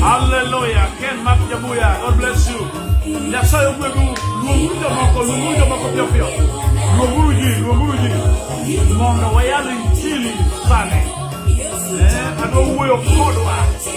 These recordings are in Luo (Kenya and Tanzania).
Hallelujah. Ken Mark Jabuya, God bless you. Nyasaye ogwedhu, luonguru jomoko, luonguru jomoko piyo piyo. Luonguru ji, luonguru ji. Mondo wayal injili sani. Eh, adwa wuoyo kodwa.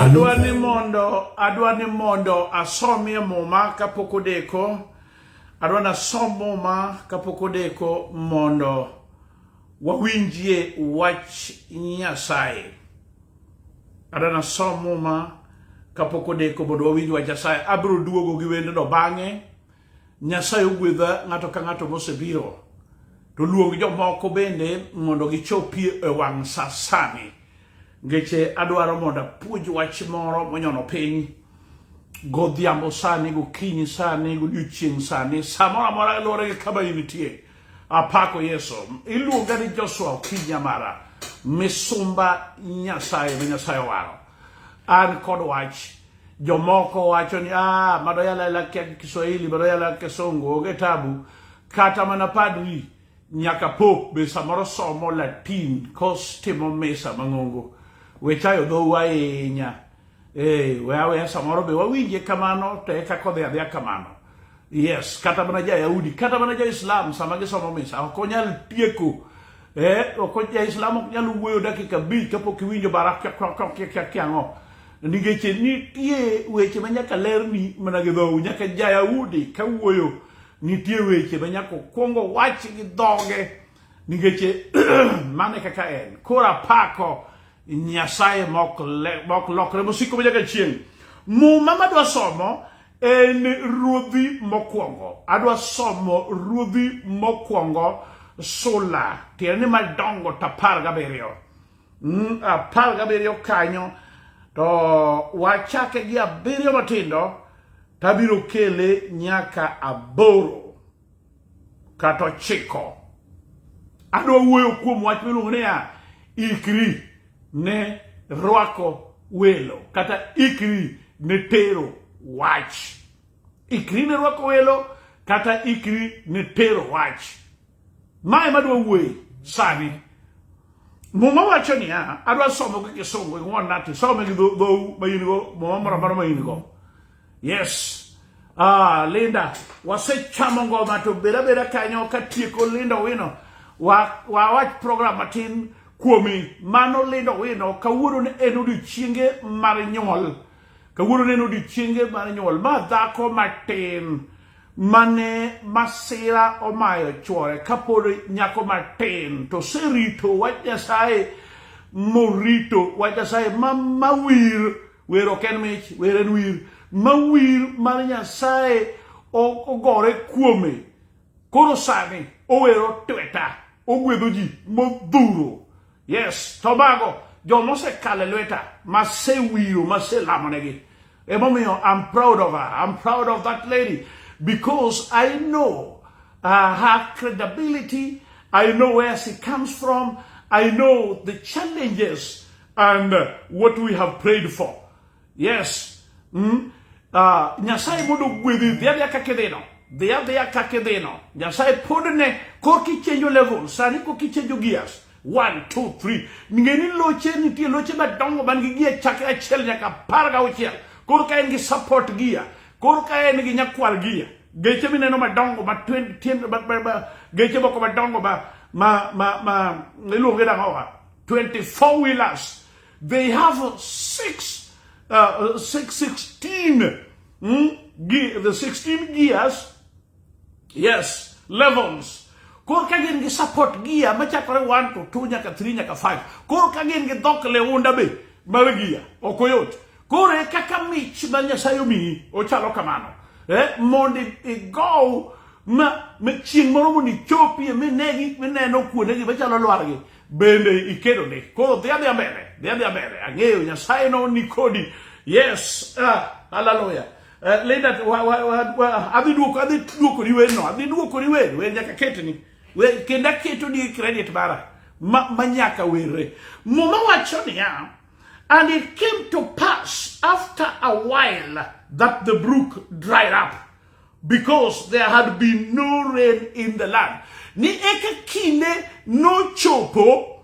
Adwa ni mondo adwa ni mondo asomie muma kapok odeko. Adwa ni asom muma kapok odeko mondo wawinjie wach Nyasaye. Adwa ni asom muma kapok odeko mondo wawinj wach Nyasaye. Abiro duogo gi wendno bang'e. Nyasaye ogwedha ng'ato ka ng'ato mosebiro to luong jomoko bende mondo gichopie e wang' sa sani ngeche adwaro mondo apuonj wach moro monyono piny godhiambo sani gokinyi sani godiochieng' sani samoro amora luwore gi kama initie apako yesu iluonga ni joshua okinya mara misumba nyasaye ma nyasaye owaro an kod wach jomoko wacho ni ah, madoyalela kia Kiswahili, madoyalela Kisungu, onge tabu. Kata mana padri nyaka pop be samoro somo Latin kos timo misa mang'ongo. Wechayo dhowu ahinya. Eh, we aweya samoro be wawinje kamano to eka kodhi adhiya kamano. Yes, kata mana ja-Yahudi, kata mana ja-Islam sama gisomo misa ok onyal tieko eh, ok ja-Islam ok nyal wuoyo dakika abich kapok iwinjo bara kiang'o nikech nitie weche ma nyaka lerni mana gi dhowu nyaka ja-Yahudi ka wuoyo nitie weche ma nyaka okwongo wach gi dhoge nikech mane kaka en koro apako Nyasaye mok lokre mosiko ma nyaka chieng' muma madwa somo en ruodhi mokwongo adwa somo ruodhi mokwongo sula tiende ni madongo to apar gabiriyo mm, apar gabiriyo kanyo to wachake gi abiriyo matindo tabiro kele nyaka aboro kata ochiko. Adwa wuoyo kuom wach miluongo niya, ikri ne rwako welo kata ikri ne tero wach. Ikri ne rwako welo kata ikri ne tero wach. Mae madwa wuoye sani. Muma wacho niya, adwa somo gi kisungu ing'won nati, some gi dhou ma in go, muma moro amora ma in go. Yes. Ah, Linda, wasechamo ngoma to bera bera kanyo ka tieko Linda Wino. Wa wa wach program matin kuomi mano Linda Wino kawuono ne en odiochienge mar nyuol. Kawuono ne en odiochienge mar nyuol ma dhako matin mane masira omayo chwore kapod nyako matin to serito wach Nyasaye morito wach Nyasaye ma mawir wer ok en mich wer en wir ma wir mar nyasaye ogore kuome koro sani owero tweta ogwedho ji modhuro yes to mago joma osekale lweta masewiro maselamonegi emomiyo i'm proud of her i'm proud of that lady because i know uh, her credibility i know where she comes from i know the challenges and uh, what we have prayed for. Yes. Mm? Uh, Nyasaye mondo gwedhi dhia dhia kaka idhino dhia dhia kaka idhino Nyasaye pod ne koka ichenjo level sani koka ichenjo gears one two three ng'e ni loche nitie loche madongo man gi gia chakre achiel nyaka apar ga auchiel koro ka en gi support gia koro ka en gi nyakwar gia geche mineno madongo ma geche moko madongo ma ma ma ma iluonge nang'owa 24 wheelers. They have six, uh, six 16, hmm? the 16 gears. Yes, levels. Kor ka gin gi support gear machakore 1 to 2 nyaka 3 nyaka 5. Kor ka gin gi dhok leunda be mar gear. Ok oyot. Koro e kaka mich ma Nyasaye omiyi ochalo kamano. Eh, mondo igow ma chieng' moro mondo ichopie minegi mineno kuondegi machalo lwargi bende ikedo ni koro dhi adhi mbele dhi adhi mbele ang'eyo nyasaye no ni kodi yes ah, haleluya uh, eh, Linda wa, wa, wa, wa, adhi duoko adhi duoko ni weno adhi duoko ni weno wen nyaka ketni we kenda keto ni credit bara ma, ma nyaka werre muma wacho niya and it came to pass after a while that the brook dried up because there had been no rain in the land. Ni eka kinde nochopo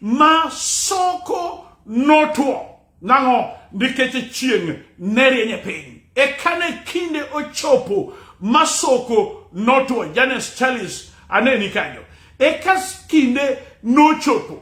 ma soko notwo. Nang'o? Nikech chieng' ne rieny e piny. Eka ne kinde ochopo ma soko notwo. Janice Charles aneni kanyo. Eka kinde nochopo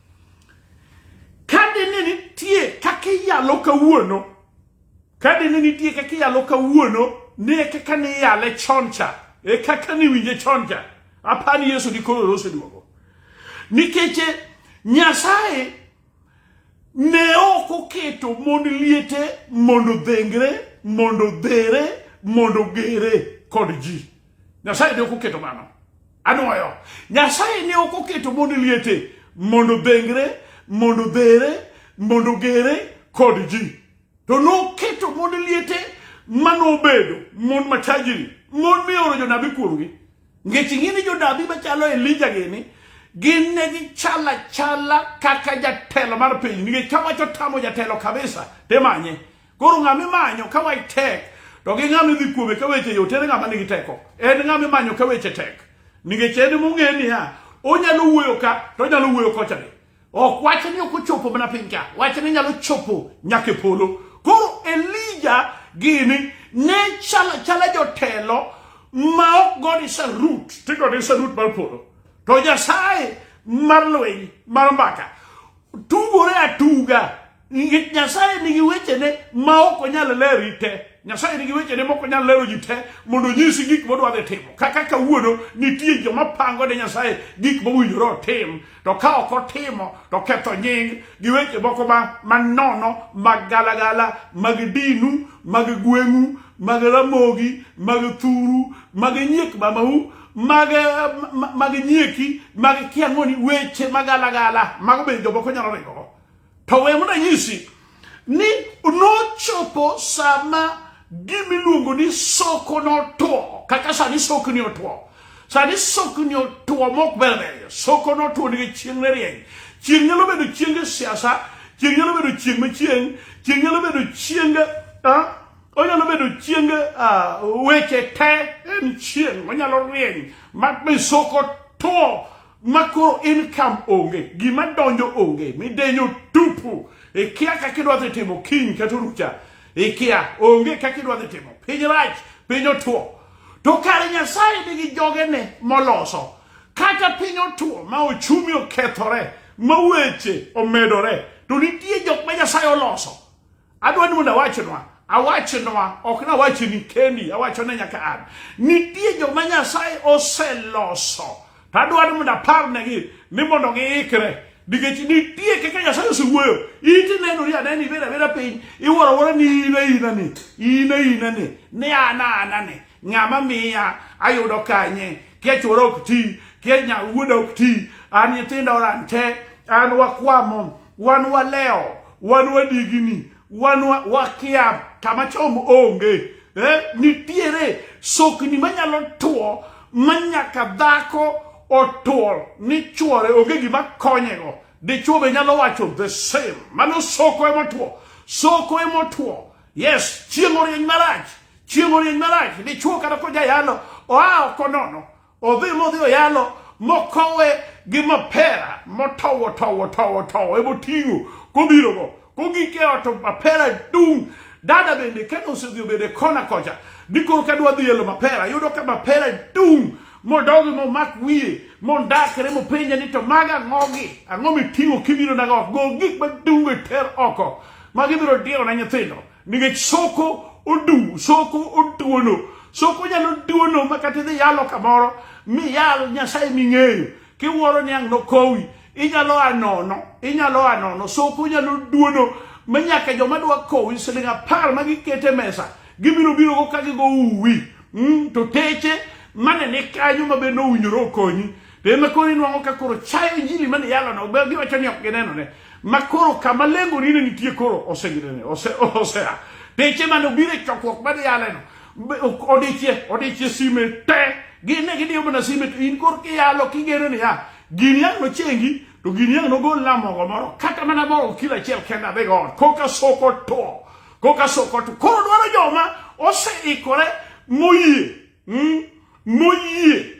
Kadi ni nitie kaka iyalo kawuono, kadi ni nitie kaka iyalo kawuono, ne kaka ni iyale choncha, e kaka ni winje choncha. Apani Yesu di koro rose duogo. Nikeche Nyasaye ne ok oketo mond liete mondo dhengre, mondo dhere, mondo gere kod ji. Nyasaye ne ok oketo mano. Anwoyo. Nyasaye ne ok oketo mondo liete, mondo bengre, mondo bere, mondo gere kod ji. To noketo mondo liete manobedo mon machajiri, mon mioro jonabi kuomgi. Ngech ing'ini jonabi machalo Elija gini, gin ne gichala chala kaka jatelo mar piny. Nikech kawacho tamo jatelo kabisa, temanye. Koro ng'ama imanyo ka wach tek to gi ng'ama idhi kuome ka weche yot en ng'ama nigi teko. En ng'ama imanyo ka weche tek. Nikech en mong'e niya, onyalo wuoyo ka to onyalo wuoyo kocha be. Ok wach ni ok ochopo mana piny ka, wach ni nyalo chopo nyaka e polo. Koro Elija gini ne chala chala jotelo ma ok God is a root, to God is a root mar polo. To Nyasaye mar lweny mar mbaka tugore atuga Nyasaye nigi wechene ma ok onyal leri te. Nyasaye nigi wechene ma ok onyal lero ji te mondo onyisi gik modwa dhi timo. Kaka kawuono nitie joma pango ne Nyasaye gik mowinjore otim, to ka ok otimo to ketho nying gi weche moko ma manono mag galagala mag dinu mag gweng'u mag ramogi mag thuru mag nyiek mamau mag mag nyieki mag kiang'oni weche magalagala mago bende jomoko nyalo ringogo To we mondo anyisi ni nochopo sama gimiluongo ni soko notwo kaka sani sokni otwo sani sokni otwo mok ber ber soko notwo nikech chieng' ne rieny chieng' nyalo bedo chienge siasa chieng' nyalo bedo chieng' machieng' chieng' nyalo bedo chienge onyalo bedo chienge weche te en chieng' onyalo rieny ma soko two ma koro income onge gima donjo onge midenyo tupu ikia kaka idwa dhi timo kiny kata orucha ikia onge kaka idwa dhi timo piny rach piny otuo to kare nyasaye nigi jogene moloso kata piny otuo ma ochumi okethore ma weche omedore to nitie jok ma nyasaye oloso Adwa ni mondo awachnwa awachnwa ok nawachni kendi awachone nyaka an nitie joma nyasaye oseloso to adwaro mondo aparnegi ni mondo giikre nikech nitie kaka nyasaye osewuoyo iti nenori aneno ibed abeda piny iwuoro awuora ni in aina ni in aina ni ni an ana ni ng'ama miya ayudo kanye kia chwora ok ti kia wuoda ok ti an nyithinda oran te an wakwamo wan walewo wan wadigini wan wakia kama chom onge eh? nitiere sokni manyalo tuo manyaka dhako otuo ni chuore onge gima konyego dichuo be nyalo wacho the same mano soko emotuo soko emotuo yes chieng' orieny marach chieng' orieny marach dichuo kata kojayalo oa oko nono Odhi modhi oyalo mokowe gi mapera motowo towo towo towo ebo ting'o kobirogo kogike ot mapera dung' dada bende kane osedhi obede kona kocha dikoro ka dwa dhi elo mapera yudo ka mapera dung' modogi momak wiye mondakre mopenja ni to maga ang'ogi ang'o miting'o kibiro nago go gik madungo e ter oko ma gibiro diyo na nyithindo nikech soko odu soko oduono soko nyalo duono ma kata idhi yalo kamoro mi yal nyasaye ming'eyo kiwuoro ni ang' nokowi inyalo anono inyalo anono soko nyalo duono ma nyaka joma dwa kowi siling' apar ma gikete mesa gibiro biro go ka gigo uwi mm, to teche mane ni kanyo ma be nowinjore okonyi Be ma koro inwang'o ka koro chayo injili mane yalono, be giwacho ni ok ginenone. Ma koro kama lengoni ne nitie koro oseginene, ose, osea. Deche mane obiro e chokruok mane yaleno, be- ok- odichie, odichie sime te. Gin ne gidiyo mana sime to in koro kiyalo kigeno niya, gini ang' nochengi, to gini ang' nogol na mogo moro, kata mana mogo kilo achiel kenda adhigo ot, koka soko to. Koka soko to. Koro dwaro joma oseikore moyie. Mm? Moyie.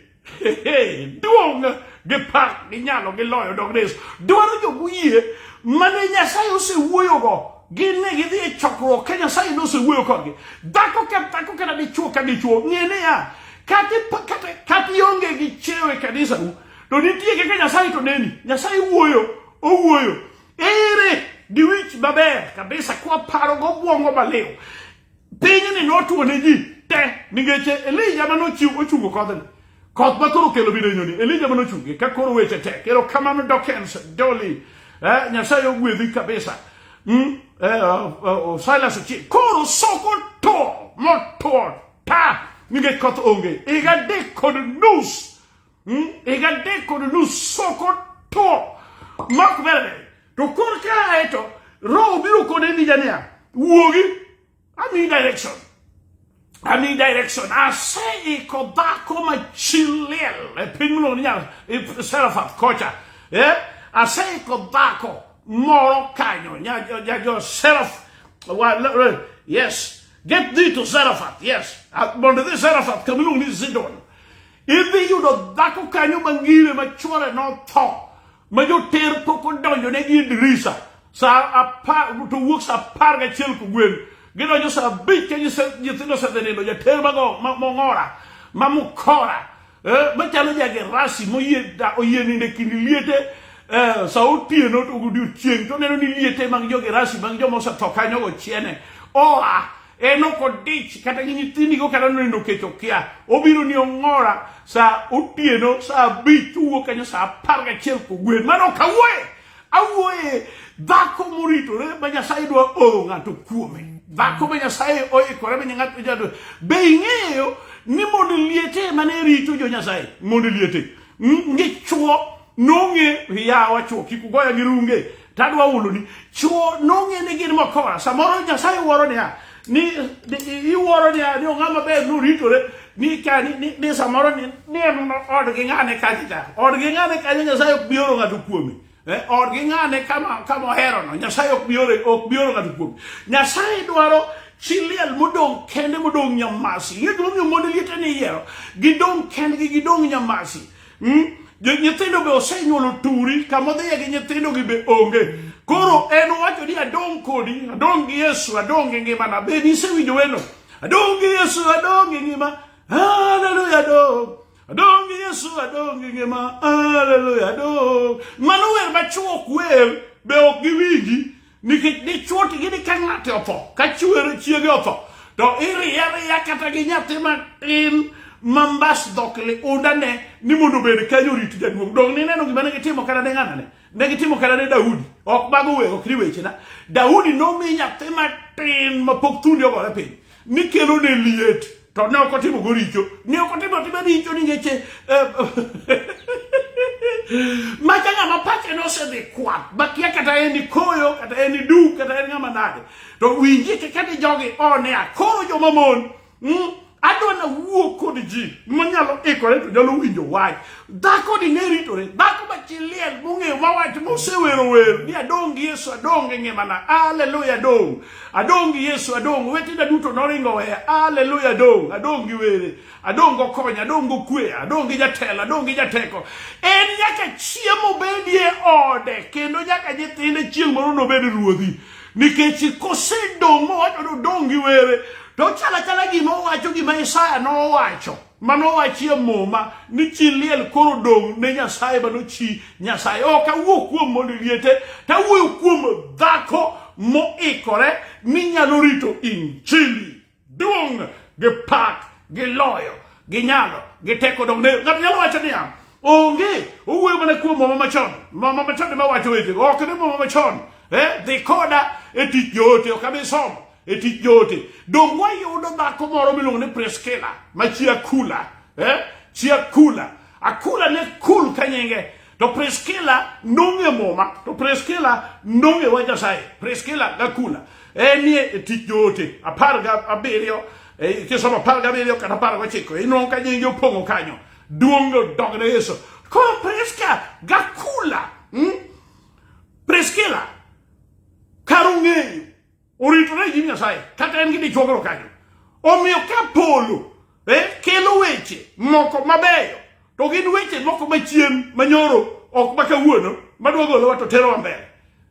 duong' gi pak gi nyalo gi loyo dog res dwaro jomoyie mane nyasaye osewuoyogo gin ne gidhi e chokruok ka nyasaye ne osewuoyo kodgi dhako ka dhako kata dichuo ka dichuo ng'e niya kata ionge gi chiewo e kanisau to nitie kaka nyasaye to neni nyasaye wuoyo owuoyo ere gi wich maber kabisa kwaparogo obwongo maliw Pinyni notwo ne ji te nikech Elija ma nochiw ochungo kodhni. Koth ma koro kelo bidenyoni, Elija ma nochunge ka koro weche tek. Ero kamano Dokens, Doli, eh, Nyasaye ogwedhi kabisa. Mm, eh, oh, oh, oh, Silas Ochieng. Koro soko to, motwo ta nikech koth onge. Higa adek kod nus Hmm? Egadde kono lusokoto mak bere to kor ka eto roho biro kode ni jania wuogi ami direction ami direction ase iko dhako machilil e piny miluongo ni nyar e serafat kocha eh? ase iko dhako moro kanyo nyajo seraf yes get thee to serafat yes mondo idhi serafat kamiluongo ni zidon Idhi yudo dhako kanyo mangire ma chwore notho ma joter pok odonjo ne gi dirisa sa apar to wuok sa apar gachiel kogwen gidonjo sa abich ka nyithindo osedhi nindo jater mago mong'ora ma mukora eh, machalo jagerasi moyie oyie ninde kind liete eh, sa otieno to odiochieng' to neno ni liete mag jogerasi mag joma osetho kanyogo chiene oa en ok odich kata gi nyithindigo kata nonindo kech okia obiro ni ong'ora sa otieno sa abich owuok kanyo sa apar gachiel kogwen mano ok awuoye awuoye dhako moritore ma nyasaye dwa oro ng'ato kuome dhako ma nyasaye oikore ma ng'ato jadwa be ing'eyo ni mondo liete mane rito jo nyasaye mondo liete ngichwo nong'e yawa chwo kik ugoya gi runge to adwa huloni chuo nong'e ni gin mokora samoro nyasaye wuoro niya ni ni- iwuoro ni ni ong'a maber noritore ni ka ni- ni ni samoro ni ni en odgi ng'ane kacha cha odgi ng'ane kacha nyasaye ok bioro ng'ato kuome Eh, odgi ng'ane kama kama oherono nyasaye ok bioro ok bioro ng'ato kuome nyasaye dwaro chiliel modong kende modong nyamasi liet momiyo monde liete ni yiero gidong kendgi gidong nyamasi Hmm? Nyithindo be osenyuolo turi, kama odhiye gi nyithindogi be onge. Koro en wacho ni adong' kodi, adong' gi Yesu, adong' gi ngimana. Be nisewinjo wendo? Adong' gi Yesu, adong' gi ngima. Haleluya, adong'. Adong' gi Yesu, adong' gi ngima. Haleluya, adong'. Mano wer machuok wer, be ok giwinji. nikech dichuo to gini ka ng'ate otho ka chuere chiege otho to iriye ariya kata gi nyathi matin mambas dhok liundane ni mondo obed kanyo orit jaduong' dong nineno gima ne gitimo kata ne ng'anane ne gitimo kata ne daudi ok mago we ok ni wechena daudi nomi nyathi matin mapok thundi ogore piny ni kelo ne liet to ne ok otimo go richo ne ok otimo atima richo ni ngeche eh, macha ng'ama pache nosedhi kwath bakia kata en ni koyo kata en ni du kata en ng'ama nade to winji kaka ni jogi one a koro joma mon mm, adwa na wuo kod ji manyalo ikore to nyalo winjo wach dhako ni ne ritore dhako machiliel mong'eyo mawach mosewero wer ni adong' gi yesu adong' e ngimana aleluya adong' Adong' gi Yesu, adong'. Wetena duto noringo weya. Haleluya, adong'. Adong' gi were. Adong' go kony, adong' go kwe, adong' gi jatelo, adong' gi jateko. En nyaka chiemo bedie ode kendo nyaka nyithinde chieng' moro nobed ruodhi. Nikech kosedong' mowacho ni odong' gi were, to chalo chala gima owacho gima Isaya nowacho. Mano wachie muma ni chi liel koro dong' ne Nyasaye mano chi Nyasaye. Ok awuo kuom mondo liete, to awuoyo kuom dhako moikore ni nyalo rito injili. Duong' gi pak gi loyo gi nyalo gi teko dong' ne ng'ato nyalo wacho niya onge owuoyo mana kuom mama machon mama machon ema wacho weche ok ne mama machon eh dhi koda e tich joote ok abi somo e tich joote donge wayudo dhako moro miluongo ni priskila ma chi akula eh? chi akula akula ne kul ka nyinge to priskila nong'e muma to priskila nong'e wa nyasaye priskila gakula enie e tich joote apar ga abiriyo e, kisomo apar ga abiriyo kata apar gochiko inwang'o ka nyinge opong'o kanyo duong' odog ne yesu koro priska gakula hmm? priskila kar ung'eyo oritore gi nyasaye kata en gi dichuogro kanyo omiyo ka polo eh, kelo weche moko mabeyo to gin weche moko machien manyoro ok makawuono madwa golowa to terowa mbele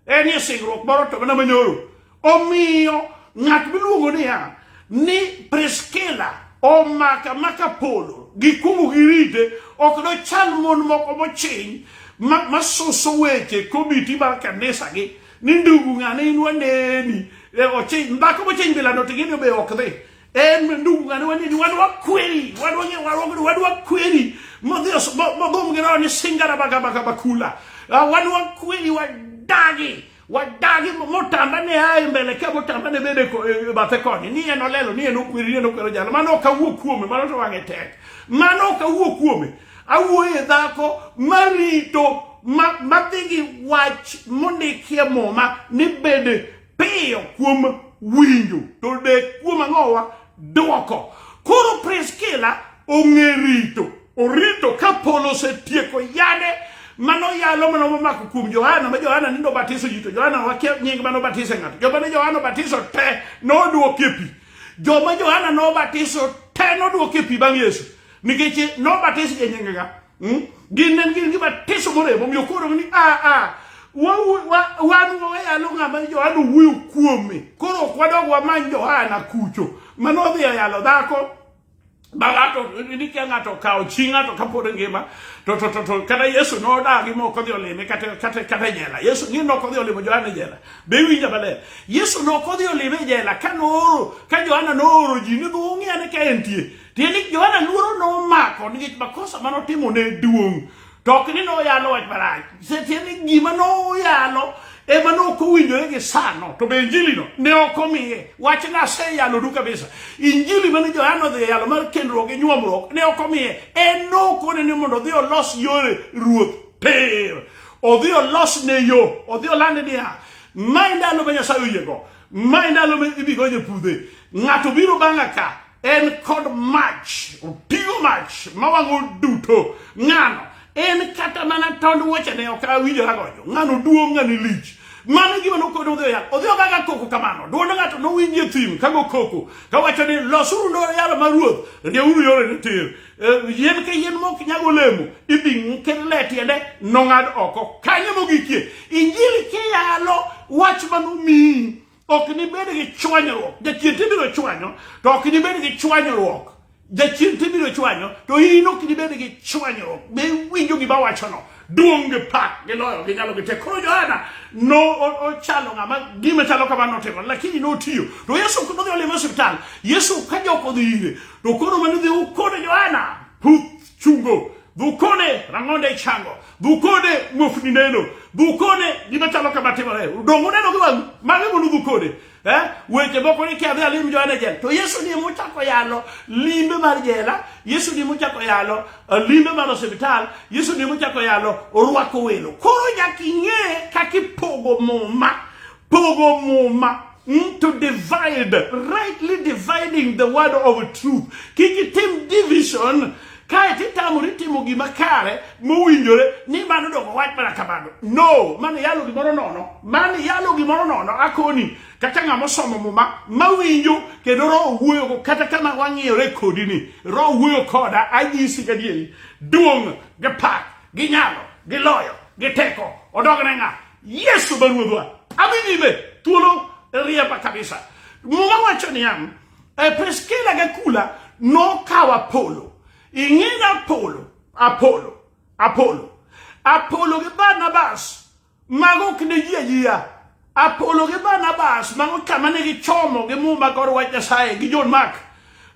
en e singruok moro to mana manyoro omiyo ng'at miluongo niya ni priskila omaka maka polo gikumu girite ok dochal mon moko mochiny ma- masuso weche komiti mar kanisagi ni ndugu ng'ane in waneni e, ochiny mbaka mochiny bilano to gini obe ok dhi en ndugu ng'ane waneni wan wakweri wan wang'e warwogni wan wakweri modhi os- mo- mogom gi roho ni singara bagabaka bakula Ah, wan wakweri wadagi wadagi mo- motamba ne aye mbele ka motamba ne bede ko- e, e, bathe koni ni en olelo ni en okweri ni en okwero jalo mano ok awuo kuome mano to wang'e tek mano ok awuo kuome Awuoye dhako marito madhi gi wach mondikie muma ni bed piyo kuom winjo to dek kuom ang'owa dwoko. Koro Priskila ong'e rito, orito ka polo osetieko yane mano yalo mano momako kuom Johana ma Johana nindo batiso ji to Johana wakia nying mano batise ng'ato joma ne Johana batiso te nodwokie pi joma Johana nobatiso te nodwokie pi bang' Yesu nikech nobatis e nyingega hmm? gin ne gin gi batiso morem omiyo koro ni a ah, a ah, wan wayalo ng'ama johana owuoyo kuome koro ok wadog wamany johana kucho mane odhi yalo dhako ma ng'ato ni ka ng'ato okawo chi ng'ato kapod ngima to to to kata yesu nodagi mok odhi olime kata kata kata jela yesu ni nok odhi olimo johana jela be winja maler yesu nok odhi olime jela ka nooro ka johana nooro ji ni dhi ung'e ane ka entie Tiende ni Johana luoro nomako nikech makosa mane otimo ne duong'. To ok ni noyalo wach marach. Tiende ni gima noyalo ema ne ok owinjore gi sano to be injilino ne ok omiye wach ne aseyalo du kabisa injili mane johana odhi e yalo mar kendruok gi nyuomruok ne ok omiye en nokone ni mondo odhi olos yore ruoth pir odhi olos ne yo odhi olande niya ma e ndalo ma nyasaye oyiego ma e ndalo ma ibigonye pudhe ng'ato biro bang'a ka en kod mach oting'o mach ma wang'o duto ng'ano en kata mana tond wuochene ok awinjora gojo ng'ano duong' ng'ani lich mano gima nokone odhi oyal odhi ogaga koko kamano dwond ng'ato nowinji e thim kago koko kawacho ni losuru ndoro yalo ma ruoth rieuru yore ni tir eh, yien ka yien mok nyag olemo idhi ket le tiende nong'ad oko kanyo mogikie injili kiyalo wach manomiyi ok nibed gi chwanyruok jachien to ibiro chwanyo to ok nibed gi chwanyruok jachien to ibiro chwanyo to in ok nibed gi chwanyruok be winjo gima wachono duong' gi pak gi loyo gi nyalo gi tek koro johana no ochalo ng'ama gima chalo kama notimo lakini notiyo to yesu nodhi olimo osiptal yesu ka jok odhi ire to koro manodhi ukone johana puth chungo dhukone rang'onde ichango dhukone muofni neno dhukone gima chalo kama timore dongo neno gi wang'u mano mondo dhukone eh? weche moko ni kiadhi alim joane jela to yesu ni mochako yalo limbe mar jela yesu ni mochako yalo eh, limbe mar osiptal yesu ni mochako yalo orwako welo koro nyaka ing'e kaka ipogo muma Pogo muma mm, to divide, rightly dividing the word of truth. Kik itim division kae titamori timo gima kare mowinjore ni mano dongo wach mana kamano no mano yalo gimoro nono mano yalo gimoro nono akoni kata ng'ama osomo muma mawinjo kendo roho wuoyogo kata kama wang'iyore kodi ni roho wuoyo koda anyisi gadieri duong' gi pak gi nyalo gi loyo gi teko odogne ng'a Yesu ma ruodhwa. Adhi nyime thuolo riemba kabisa. Muma wacho niya, e Priskila gi Akula nokawo Apolo. Ing'eyo Apolo, Apolo, Apolo. Apolo gi Barnabas mago ok ne ji ajiya. Apolo gi Barnabas mago kama ne gichomo gi muma kod wach Nyasaye gi John Mark.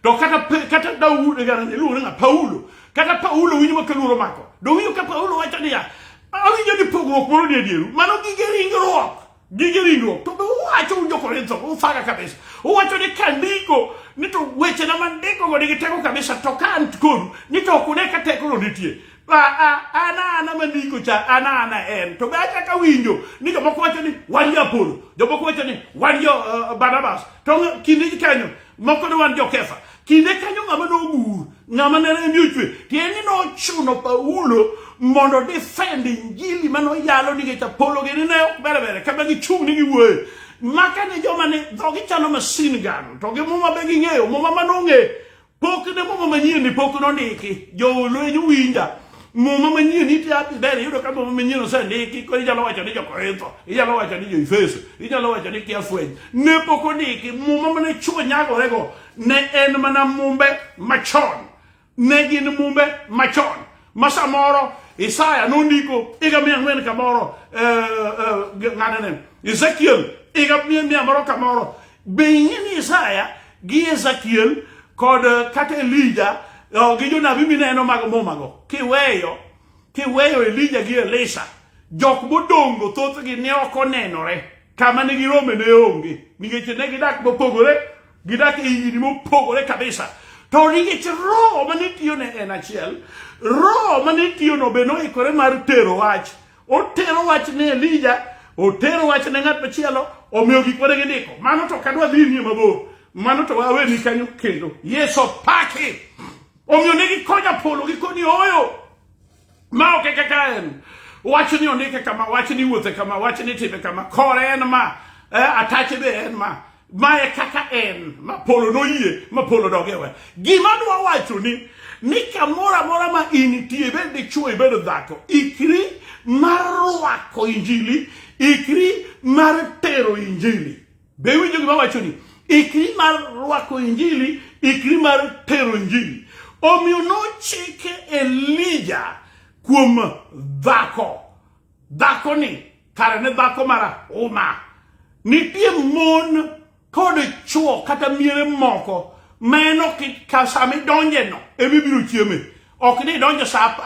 to kata kata Daudi e garane luore na Paulo kata Paulo winjo ma kaluoro mako do winjo ka Paulo wacho niya awinjo ni pogruok moro ni edieru mano gige ringruok gige ringruok to be uwacho un jokorintho ufaga kabisa uwacho ni kandiko ni to weche na mandiko go nigi teko kabisa to ka an kodu ni to ok une ka teko no nitie ana ana mandiko cha ana ana en to be achako awinjo ni jomoko wacho ni wan jo apolo jomoko wacho ni wan jo uh, barnabas to kinde kanyo moko ne wan jokefa kinde kanyo ng'ama nogur ng'ama ne remi ochwe tiende ni nochuno paulo mondo defend injili ma noyalo nikech apolo gini ne ok berebere kama gichung' ni giwuoye maka ne joma ne dhogi chalo masin gano to gi muma be ging'eyo muma ma nong'e pok ne muma manyien ni pok nondiki jolweny winja muma manyien iti api ber iyudo ka muma manyien osendiki koro inyalo wacho ni jokorintho inyalo wacho ni joefeso inyalo wacho ni kiafweny ne pok ondiki muma mane chuo nyagorego ne en mana mumbe machon ne gin mumbe machon ma samoro isaya nondiko higa mia ang'wen kamoro eh, eh, ng'anene ezekiel higa mia mia moro kamoro Be ing'eni Isaya gi Ezekiel kod eh, kata Elija eh, gi jonabi mineno mag mumago kiweyo kiweyo Elija gi Elisha jok modongo thothgi ne ok onenore kama ne girome ne onge nikech ne gidak mopogore gidak e higni mopogore kabisa to nikech roho mane tiyone en achiel roho mane tiyono be noikore mar tero wach Otero wach ne Elija, otero wach ne ng'at machielo, omiyo gik mane gindiko. Mano to kadwa dhi nie mabor. Mano to awe ni kanyo kendo. Yesu paki. Omiyo ne gikonya polo gikoni oyo. Ma ok kaka en. Wach ni ondike kama, wach ni wuothe kama, wach ni time kama. Kore en ma. Eh, atache be en ma. ma e kaka en ma polo noyie ma polo dogewe gima dwa wacho ni ni kamoro amora ma initie ibed dichwo ibed dhako ikri mar rwako injili ikri mar tero injili be winjo gima wacho ni ikri mar rwako injili ikri mar tero injili omiyo nochike elija kuom dhako dhakoni Kare ne dhako marahuma. Nitie mon kod chwo kata miere moko ma en ok ka sama idonjeno ema ibiro chieme ok ni idonjo sa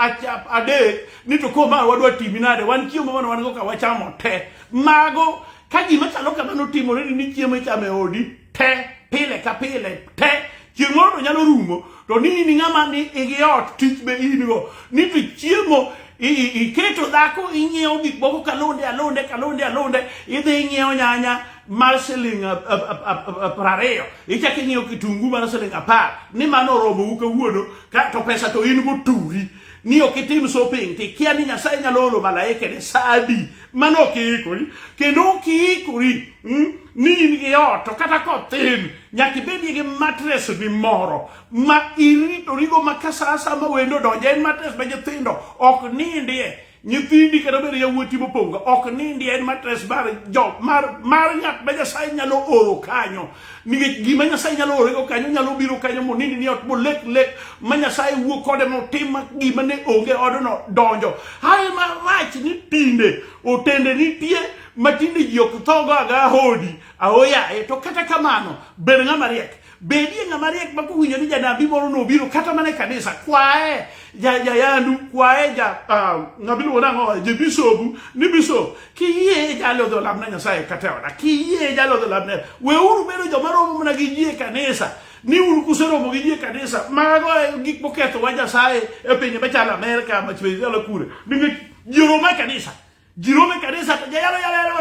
adek ni to ko mar wadwa timi nade wan chiemo mano wan go ka wachamo te mago ka gima chalo kamano timore ni chiemo ichamo e odi te pile ka pile te chieng' moro to nyalo rumo to ni in ng'ama ni igi ot tich be in go ni to chiemo iketo dhako ing'iewo gik moko kalonde alonde kalonde alonde idhi ing'iewo nyanya mar siling prariyo ichako ing'iewo kitungu mar siling apar ni mano oromo u kawuono to pesa to in go turi ni ok itim shopping to ikia ni nyasaye nyalo oro malaike ni sadi mano ok iikori kendo ok iikori Hmm? ni in gi ot to kata kothin nyaka ibedie gi matres ni moro ma iritorigo ma ka sa asaya ma wendo donjo en matres ma nyithindo ok nindie nyithindi kata obedo yawuoti mopong'o ok nindie en matres mar jo mar mar ng'at ma nyasaye nyalo oro kanyo nikech gima nyasaye nyalo orego kanyo nyalo biro kanyo monindi ni ot molek lek ma nyasaye wuo kode motim gima ne onge odno donjo haye marach ni tinde otende nitie matinde ji ok thogo aga ahodi ahoyaye to kata kamano bed ng'ama riek bedie ng'ama riek ma kowinjo ni janabi moro nobiro kata mana e kanisa kwaye ja jayandu kwaye ja ah, ng'ama iluongo nang'o je bisobu ni bisop kiyie jalo dho lamna nyasaye kata oda kiyie jalo dho lamna weuru bedo joma romo mana gi ji e kanisa ni un kuseromo gi ji e kanisa mago e gik moketho wa nyasaye e pinje machalo amerka machalo kure nikech ji romo e kanisa Jerome Kanisa to jayalo yalo yalo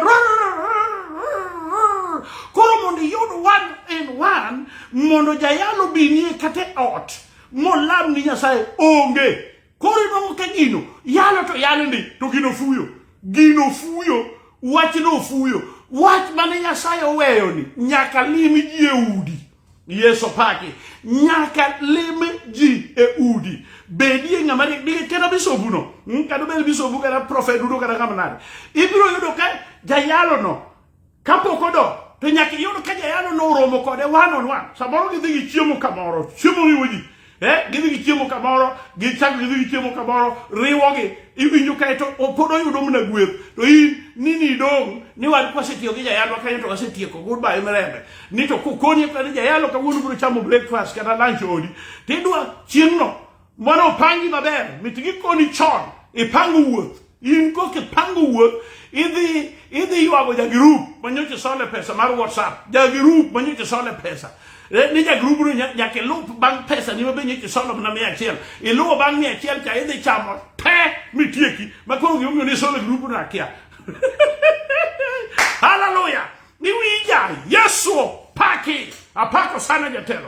koro mondo iyud one in one mondo jayalo binie kata e ot molam ni Nyasaye onge koro inuang'o ka gino yalo to yalo ndi to gino fuyo gino fuyo wachno fuyo wach mane Nyasaye oweyoni nyaka lim ji e udi Yesu paki nyaka lime ji e udi bedie ng'ama nigi kata bisobuno hmm, kata obed bisobu kata profet duto kata ng'ama nade ibiro yudo ka jayalono kapok odok to nyaka iyud ka jayalono oromo kode one on one samoro gidhi gi chiemo kamoro chiemo riwo ji Eh, gidhi gi chiemo kamoro gichako gidhi gi chiemo kamoro riwogi iwinjo kae to pod oyudo mana gweth to in nini idong' ni wan kwasetiyo gi jayalo kanyo to wasetieko goodbye mirembe ni to kokoni ka ni jayalo kawuono biro chamo breakfast kata lunch odi tidwa chieng'no mano opangi maber mit gikoni chon ipango wuoth In koka ipango wuoth, idhi idhi ywago ja group ma nyocha isole pesa mar WhatsApp, ja group ma nyocha isole pesa. Eh, Ni ja group no nya- nyaka ilup bang' pesa ni mabe nyocha isolo mana mia achiel. Iluwo bang' mia achiel cha idhi chamo te mitieki. Ma koro gima omiyo ni isolo group no akia. Hallelujah! Niwinja Yesu paki. Apako sana jatelo.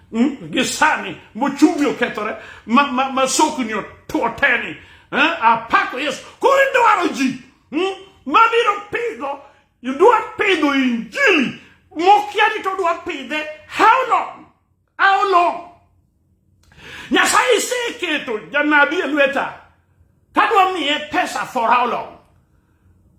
Hmm? gi sani mochumi okethore ma, ma, ma sokni oteni eh? apako yesu koro idwaro ji hmm? mabiro pidho idwa pidho injili mokia ni to dwa pidhe how long how long nyasaye iseketo janabi e lweta kadwa miye pesa for how long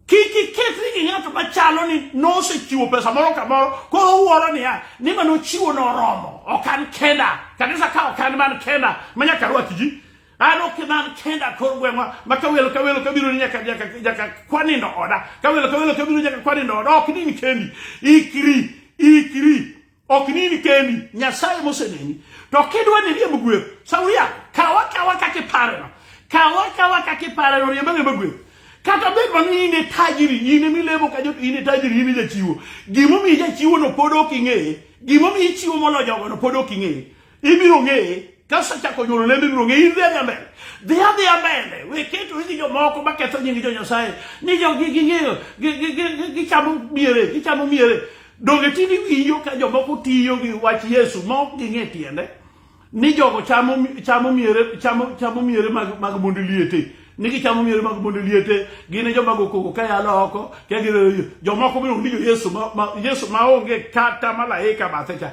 Kik iketri gi ng'ato machalo ni nosechiwo pesa moro kamoro koro uwuoro niya ni ma nochiwo noromo ok an kenda kanisa ka ok an man kenda ma nyaka rwaki ji an ok man kenda kor gweng'wa ma ka welo ka welo kabiro ni nyaka nyaka nyaka kwanindo oda ka welo ka welo kabiro nyaka kwanindo oda ok ni kendi ikri ikri ok nini keni nyasaye moseneni to kidwa ni riemb gweth shauri yako kawa kawa kaka ipareno kawa kawa kaka ipareno riemb ariemba gweth kata bed mana in e tajiri in ema ilemo ka jot in e tajiri in e jachiwo gimomiyo ijachiwono pod ok ing'eye gimomiyo ichiwo molo jogono pod ok ing'eye Ibiro ng'eye ka osechako nyuolo lembe ibiro ng'eye. In dhi adhi mbele, dhi adhi mbele, we keto gi jomoko maketho nying jo Nyasaye ni jo ging'eyo gichamo miere gichamo miere. Donge tini winjo ka jomoko tiyo gi wach Yesu ma ok ging'e tiende ni jogo chamo chamo miere chamo chamo miere mag mag mond liete ni gichamo miere mag mond liete gin e joma gokogo ka yalo oko ka gin jomoko biro winjo Yesu ma Yesu ma onge kata malaika bathe cha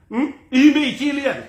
in be ichi liel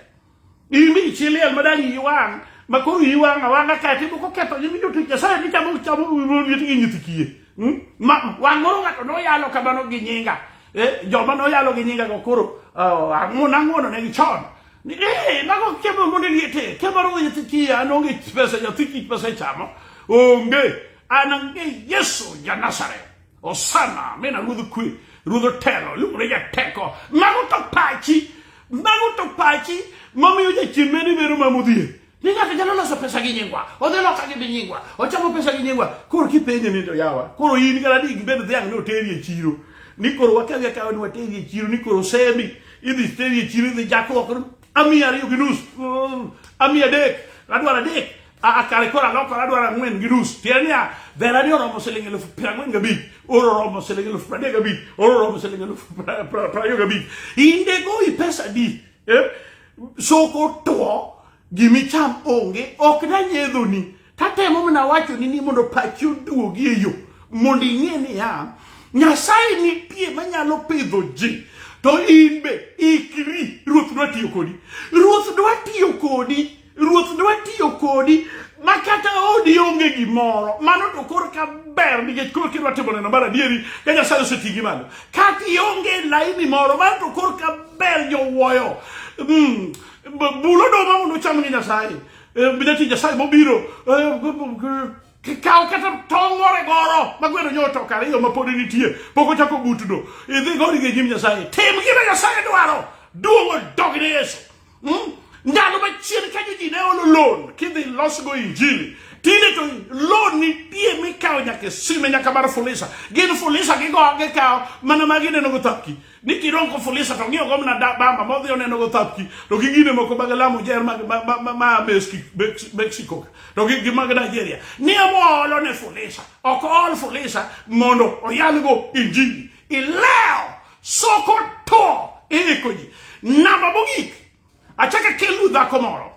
in be ichi liel ma dang' iyi wang' ma koro iyi wang' awang'a ka timo koketho nyimi jotich nyasaye ni chamo chamo ruodhi gi nyithi kiye Hmm? Ma- wang' moro ng'ato noyalo kamano gi nyinga Eh, joma noyalo gi nyinga go koro oh, ang'uono ang'uono ne gichon Ni, eh, mago kemo monde liete kemo ruodhi nyithi kiye an onge pesa nyathi kich pesa ichamo onge an ang'e yesu ja nazareth Osana, mina ruodh kwe, ruodh otelo, iluongone jateko. Mago to pachi, mago to pachi mamiyo jachien meni bero ma modhier. Ni ng'ato nyalo loso pesa gi nyingwa, odhi loka gi nyingwa, ochamo pesa gi nyingwa. Koro kipenje ni to yawa, koro in kata ni gibed dhiang' ni oteri e chiro. Ni koro wakawi akawa ni wateri e chiro, ni koro semi, idhi teri e chiro, idhi jakruok, amiya ariyo gi nus, mm, amiya adek, adwaro adek. akare koro alokore adwaro ang'wen gi nus tiende niya verani oromo siling elufu piero ang'wen gabich oro oromo siling elufu piero adek gabich oro oromo siling elufu piero ariyo gabich inde gowi pesa di eh? soko two gimicham onge ok nanyedhoni tatemo mana wachoni ni mondo pachi oduogi e yo mondo ing'e niya nyasaye nitie manyalo pidho ji to in be ikri ruoth dwa tiyo kodi ruoth dwa tiyo kodi Ruoth ne watiyo kodi ma kata odi onge gimoro mano to kor ka ber nikech koro kidwa timo neno mar adieri ka nyasaye oseti gi malo kata ionge laini moro mano to kor ka ber jowuoyo mm. bulo doma mondo ucham gi nyasaye eh, midati nyasaye mobiro eh, kaw kata tong' ore goro ma gweno nyo otoko ariyo ma pod nitie pok ochako butno idhi gori gi nyim nyasaye tim gima nyasaye dwaro duogo dog ne yesu Hmm? Ndalo machien kanyo ji ne olo loan kidhi losgo injili tinde to loan nitie mikawo nyaka sime nyaka mar fulisa gin fulisa gigo gikawo mana ma gineno go thapki ni kirongo fulisa to ng'iyo gomna bamba modhi oneno go thapki to gi gine moko mag lamo jer ma ma Mexico to gi mag Nigeria ni amolo ne fulisa ok ol fulisa mondo oyalgo injili ileo Sokoto iiko ji. Namba mogik, achaka kelu dhako moro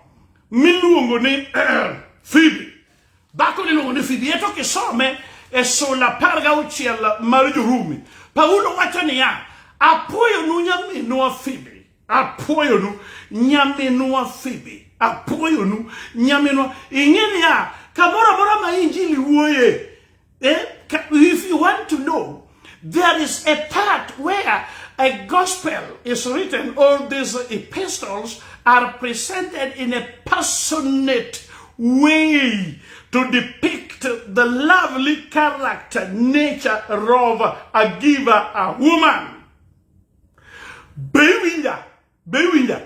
miluongo ni eh, Phoebe. Dhako ni luongo ni Phoebe, eto kisome e sula apar gauchiel mar Jorumi. Paulo wacho niya, apuoyo nu nyaminwa Phoebe apwoyonu nyaminwa Phoebe apwoyonu nyaminwa ing'e niya kamoro amora ma injili wuoye eh? Ka- if you want to know there is a part where a gospel is written all these epistles are presented in a passionate way to depict the lovely character nature of a giver a woman Be iwinja? Be iwinja?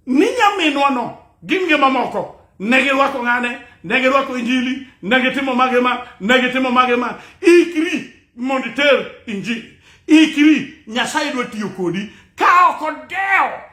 Ni nyaminwano gi nge mamoko ne girwako ng'ane, ne girwako injili, ne gitimo mage ma, ne gitimo mage ma. Ikri mondo iter injili. Ikri, Nyasaye dwa tiyo kodi ka ok odewo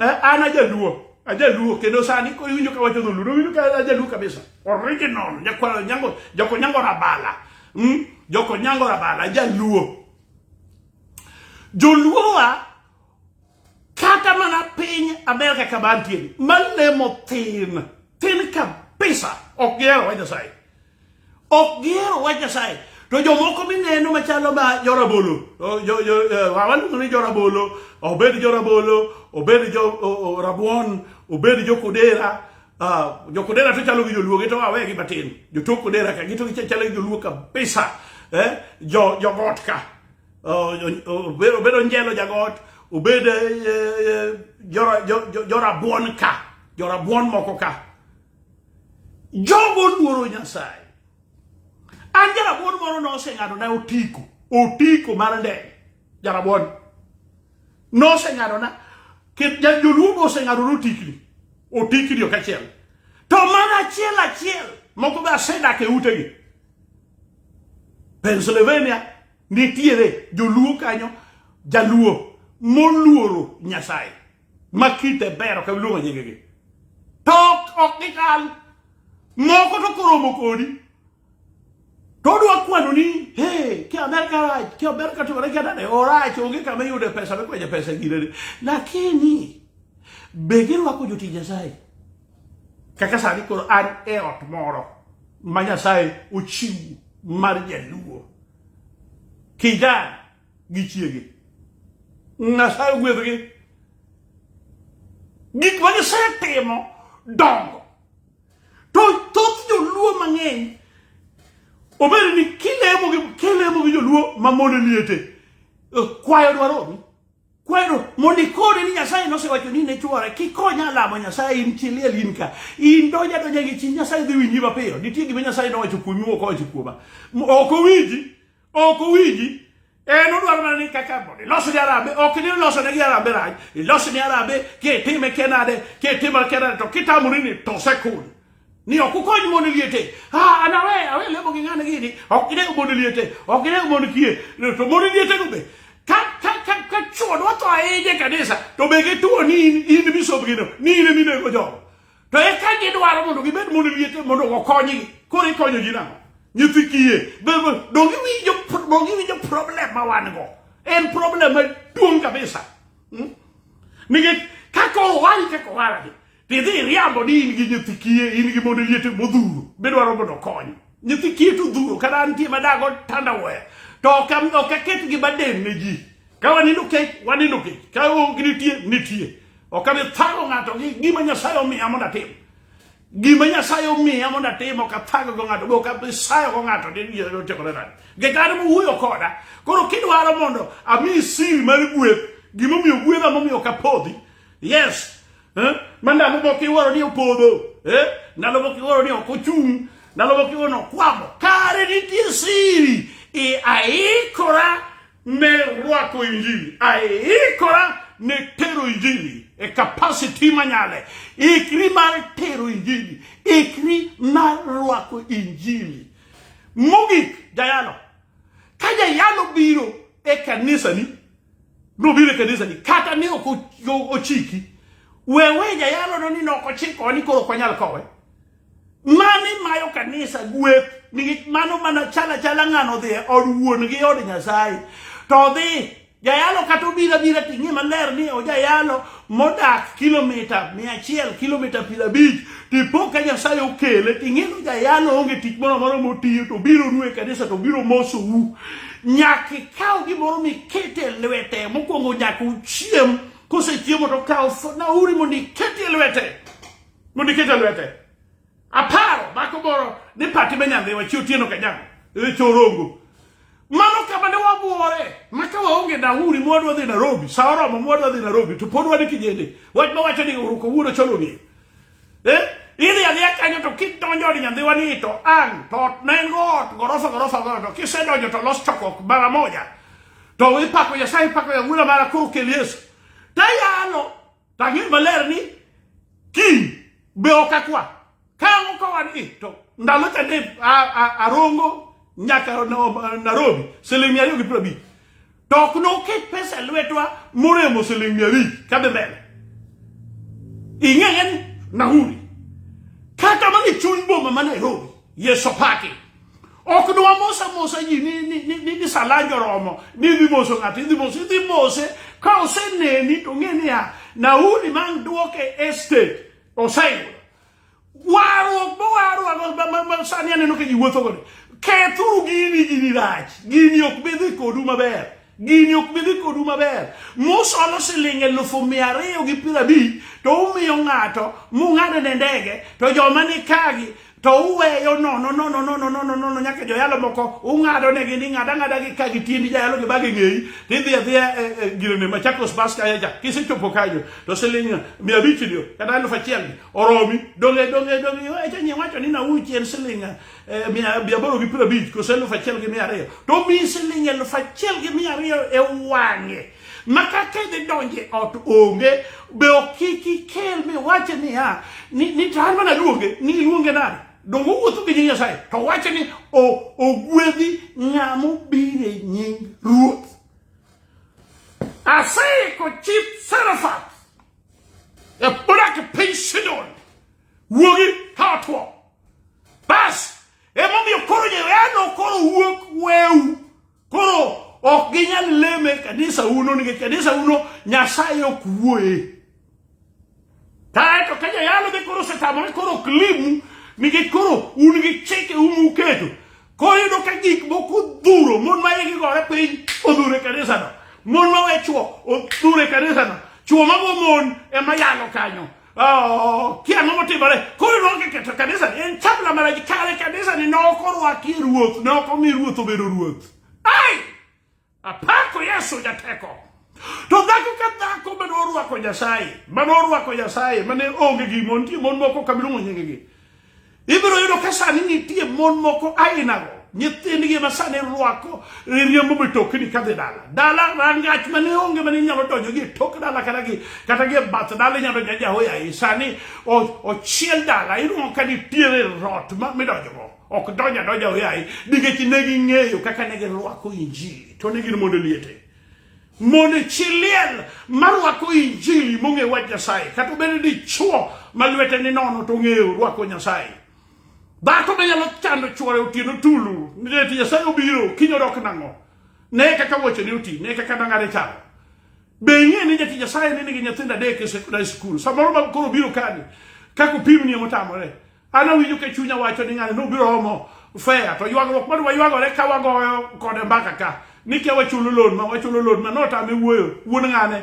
Eh, an ajaluo ajaluo kendo sani iwinjo ka wacho dholuo winjo ka ajaluo kabisa original nyakwaro nyango joko nyango rabala mm? joko nyango rabala ajaluo joluowa kata mana piny amerika kama antiere malemo tin tin kabisa ok gihero wa nyasaye ok gihero wach Nyasaye. To jomoko mineno machalo ma jorabolo, eh, waluongo ni jorabolo, obed jorabolo, obed jo rabuon, obed jokodera, ah, jokodera to chalo gi joluo, gito wawe gi matin, jotok kodera ka, gito chalo gi joluo kabisa, eh, jo jogot ka, oh, obedo njelo jagot, obed eh, jorabuon ka, jorabuon moko ka. Jogo oluoro Nyasaye. An jarabuon moro noseng'ado na otiko, otiko mar ndege, jarabuon. Noseng'ado na, joluo oseng'ado na otikni, otikni ok achiel. To mana achiel achiel, moko be asedak e utegi. Pennsylvania nitiere joluo kanyo, jaluo moluoro Nyasaye. ma kite bero ka luongo nyingegi to ok gichal moko to koromo kodi to odwa kwano ni he ki amerka rach ki amerka timore ki adade orach onge kama iyude pesa mikwenye pesa e girene lakini be girwako jotich nyasaye kaka sani koro an e ot moro ma nyasaye ochiwo mar jaluo kijana gi chiege nyasaye ogwedhgi gik ma gisetimo dongo to thoth joluo mang'eny obed ni kilemo gi kilemo gi joluo ma mondo liete eh, kwayo dwaromi kwero mondo ikone ni nyasaye nosewacho ni ne chwore kikonya lamo nyasaye in chiliel in ka in donja donja gi chi nyasaye dhi winji mapiyo nitie gima nyasaye nowacho kuomi mokowacho kuoma ok owinji ok owinji en odwaro mana ni kaka mondo ilos ni arambe ok ni iloso ne gi arambe rach ilos ni arambe kitime kenade kitime kenade to kitamori ni to sekul ni ok ukony mon liete ah ana we awe lemo gi ng'ane gini ok gine mon liete ok gine mon kie to mon liete go be ka ka ka ka chuo dwa to aije kanisa to be gituo ni in in bisob gino ni in minego jogo to eka gidwaro mondo gibed mondo liete mondo okonygi koro ikonyo ji nang'o nyithi kiye donge winjo donge winjo problem ma wan go en problem maduong' kabisa hmm? nikech kaka owari kaka owaragi tidhi iriambo ni in gi nyithi kiye in gi mondo liete modhuro bidwaro mondo okonyi nyithi kiye to dhuro kata antie madago tanda waya to ok aket gi baden ne ji Ka wanindo kech, wanindo kech. Ka onge nitie, nitie. Ok abi thago ng'ato gi gima Nyasaye omiya mondo atim. Gima Nyasaye omiya mondo atim ok athago go ng'ato, be ok abi sayo go ng'ato ni ni otimore nade. Nikech an mowuoyo koda, koro kidwaro mondo amiyi siri mar gweth, gima omiyo gwedha momiyo ok apodhi. Yes. Eh? Ma ndalo moko iwuoro ni opodho. Eh? Ndalo moko iwuoro ni ok ochung'. Ndalo moko iwuoro ni okwamo. Kare nitie siri. I aikora Merwako injili aikora ne tero injili e capacity manyale. Ikri mar tero injili, ikri mar rwako injili. Mogik jayalo, ka jayalo biro e kanisani, nobiro e kanisani kata ne ok ochiki, wewe jayalono ni ne ok ochiko ni koro ok wanyal kowe. Mani mayo kanisa gweth nikech mano mana chala chala ng'ano dhi e od wuon gi od Nyasaye to odhi jayalo kata obira bira ting'e maler ni ojayalo modak kilomita mia achiel kilomita piero abich tipo ka Nyasaye okele ting'e ni jayalo onge tich moro amora motiyo to biro nu e kanisa to biro mosou nyaka ikaw gimoro mikete lwete mokwongo nyaka uchiem kosechiemo to kaw nauri mondo ikete lwete mondo iket e lwete aparo mako moro ni pati me nyandhiwa chi otieno kajago e chorongo mano kama ne wabuore maka waonge nauri mwadwa dhi Nairobi sa oromo mwadwa dhi Nairobi to pod wan kijende wach ma wacho ni uruko wuono cholo ni eh ili alia kanyo to kidonjo ni nyandhiwa ni to an to nengo ot gorofa gorofa gorofa kisedonjo to los chokok mara moja to ipako Nyasaye ipako ya ng'ula mara koro kel Yesu tayalo To ang'eyo maler ni kiny be ok akwa. Ka ang'o ka wan i to ndalo cha ne arongo nyaka Nairobi siling' mia ariyo gi piero abich. To ok noket pesa e lwetwa moremo siling' mia abich kadhi mbele. Ing'eya ni nahuri. Kata mana e chuny boma ma Nairobi, Yesu paki. ok ni wamosamosa ji ni, ni, ni, ni, ni salanja oromo ni idhi moso ng'ato idhi mose idhi mose ka oseneni to ng'e niya nauli ma ang' duoke estate oseyudo warruok mowarruok sani aneno ka ji wuotho kode kethuru gini gini rach gini ok bidhi kodu maber gini ok bi dhi kodu maber musolo siling elufu mia ariyo gi piero abich to umiyo ng'ato mung'ado ne ndege to joma ni kagi to uweyo nono nono nono nono nono nyaka joyalo moko ung'ado negi ni ng'ada ng'ada gi ka gi tiendi jayalo gi bagi ng'eyi to idhi adhiya e, e, girene machakos bas kaya cha kisechopo kanyo to siling mia abich ni kata elufu achiel oromi donge donge donge echa nyi wacho ni nauchi en siling eh, aboro gi piero abich kose elufu achiel gi mia ariyo to omiyi siling elufu achiel gi mia ariyo e wang'e ma kaka idhi donje ot onge be ok kik ikel miwache niya ni to an mana luonge ni iluonge nade donge owuotho gi nying nyasaye to wache ni ogwedhi ng'amo bire nying ruoth aseiko chip serafat e bodak e piny sidon wuogi ka otwo Bas! Emomiyo koro joyano koro wuok weu. Koro ok ginyal leme kanisa uno nikech kanisa uno Nyasaye ok wuoye. Kaeto ka joyalo be koro osetamore koro ok limu nikech koro un gi chike umu uketo. Koro yudo ka gik moko odhuro mon ma igi gore piny odhuro e kanisano. Mon ma we chwo odhuro e kanisano. Chwo mago mon ema yalo kanyo. Oh, kia ang'o motimore koro noke keto kanisa ni en chapla mana gi kare kanisa ni nok orwaki ruoth nok omi ruoth obedo ruoth ai apako yesu jateko to dhako ka dhako mane orwako nyasaye mane orwako nyasaye mane onge gi mon nitie mon moko kamiluongo nyingegi Ibiro yudo ka sani nitie mon moko ainago nyithindgi ma sani rwako riembo mitokni kadhi dala dala rangach mane onge mane inyalo donjo gi e tok dala kata gi kata gi e bath dala inyalo donjo jahoya i sani ochiel dala inuo ka nitiere rot midonjogo ok donjo adonja hoyayi nikech ne ging'eyo kaka ne girwako injili to ne gin mondo liete Mone chi liel marwako injili mong'e wach Nyasaye, kata obedo dichwo ma lwete ni nono to ong'eyo rwako Nyasaye. Dhako be nyalo chando chwore otieno tulu, nideti Nyasaye obiro, kiny odok nang'o? Ne kaka wuoche ni oti, ne kaka dang'are chalo. Be ing'e ni jati Nyasaye ni nigi nyithindo adek e sekondari skul, samoro ma koro biro kani, kaka opimni emotamore. An awinjo ka chunya wacho ni ng'ani nobiro omo fea to ywagruok mane waywagore ka wagoyo kode mbaka ka ni kia wachulo loan ma wachulo loan ma notame wuoyo wuon ng'ane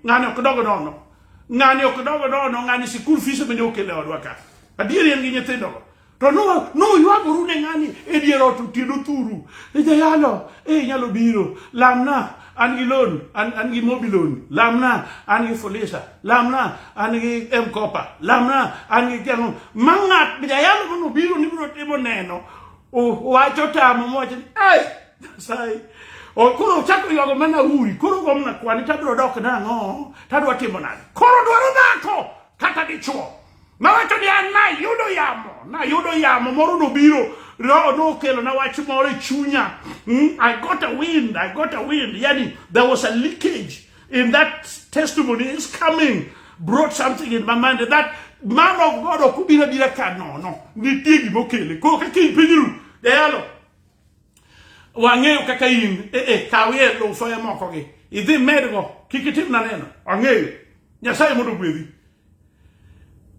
ng'ani ok dogo nono ng'ani ok dogo nono ng'ani sikul fees bende okele odwa ka adieri en gi nyithindogo to noywagoru ne ng'ani e dier ot otieno thuru ijayalo e inyalo biro lamna an gi loan an an gi mobi loan lamna an gi fulisa lamna an gi mkopa lamna an gi jang'o ma ng'at jayalo mano biro ni biro timo neno wacho tamo mowacho ni ai nyasaye koro ochako ywago mana uri koro gomna kwani tabiro dok nang'o tadwa timo nade koro dwaro dhako kata dichuo Nawacho ni an nayudo yamo, nayudo yamo moro nobiro, roho nokelo na wach moro e chunya. Mm, I got a wind, I got a wind. Yani there was a leakage in that testimony is coming brought something in my mind that man of God okubira bira ka no no nitie gima okele ko kaka in pinyru dayalo wang'eyo kaka in e e kawie lufoye moko gi idhi medgo kik itim na neno wang'eyo nyasaye mondo gwedhi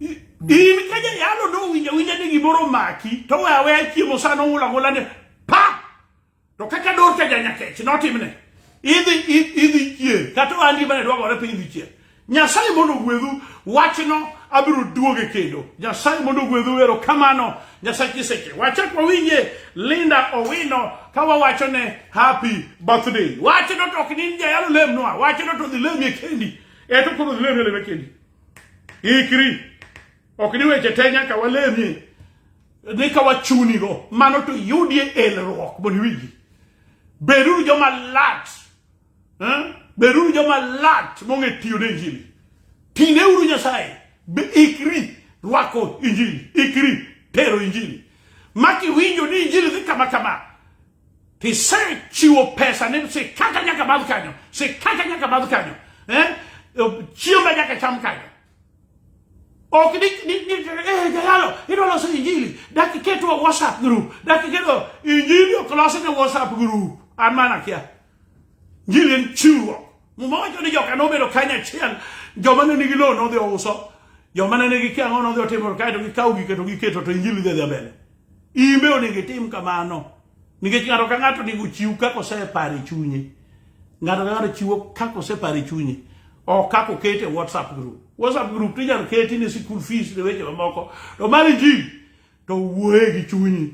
in ka jayalo nowinja winja ni gimoro omaki to we aweya chiemo sa nong'ula ng'ula ni pa to kaka dorka janyakech notimne idhi idhi chier kata ohandi mane dwagore piny dhi chier nyasaye mondo ogwedhu wachno abiro duoge kendo nyasaye mondo ogwedhu ero kamano nyasaye kiseche wachak wawinje linda owino ka wawacho ne happy birthday wachno to ok nin jayalo lemnwa wachno to dhi lemie kendi E to koro lero lero kendi. Ikri. Ok ni weche te nyaka walemie. Ni ka wachunigo, mano to yudie elruok mondo iwinji. Beduru joma lat. Eh? Beduru joma lat mong'e tiyo ne Injili. Tineuru Nyasaye. Be ikri rwako Injili. Ikri tero Injili. Maki winjo ni Injili dhi kama kama. Isechiwo pesa ne sikaka nyaka madh kanyo, sikaka nyaka madh kanyo. Eh? Chiemba nyaka cham kanyo. Ok ni ni ni eh jayalo idwa loso injili dak iketo WhatsApp group dak iketo injili ok losi ne WhatsApp group an mana kia Gilin chiwo. Muma wacho ni joka nobedo kanya achiel, joma ne nigi lowo nodhi ouso, joma ne nigi kiang'o nodhi otimo kae to gikawo gike to giketo to injili dhi dhi mbele. Imbe onego itim kamano. Nikech ng'ato ka ng'ato onego ochiw kaka oseparo e chunye. Ng'ato ka ng'ato chiwo kaka oseparo e chunye. Ok kaka oket e WhatsApp group. WhatsApp group to inyalo keti ne school fees ne weche mamoko. To mar injili to wuoye gi chunyi.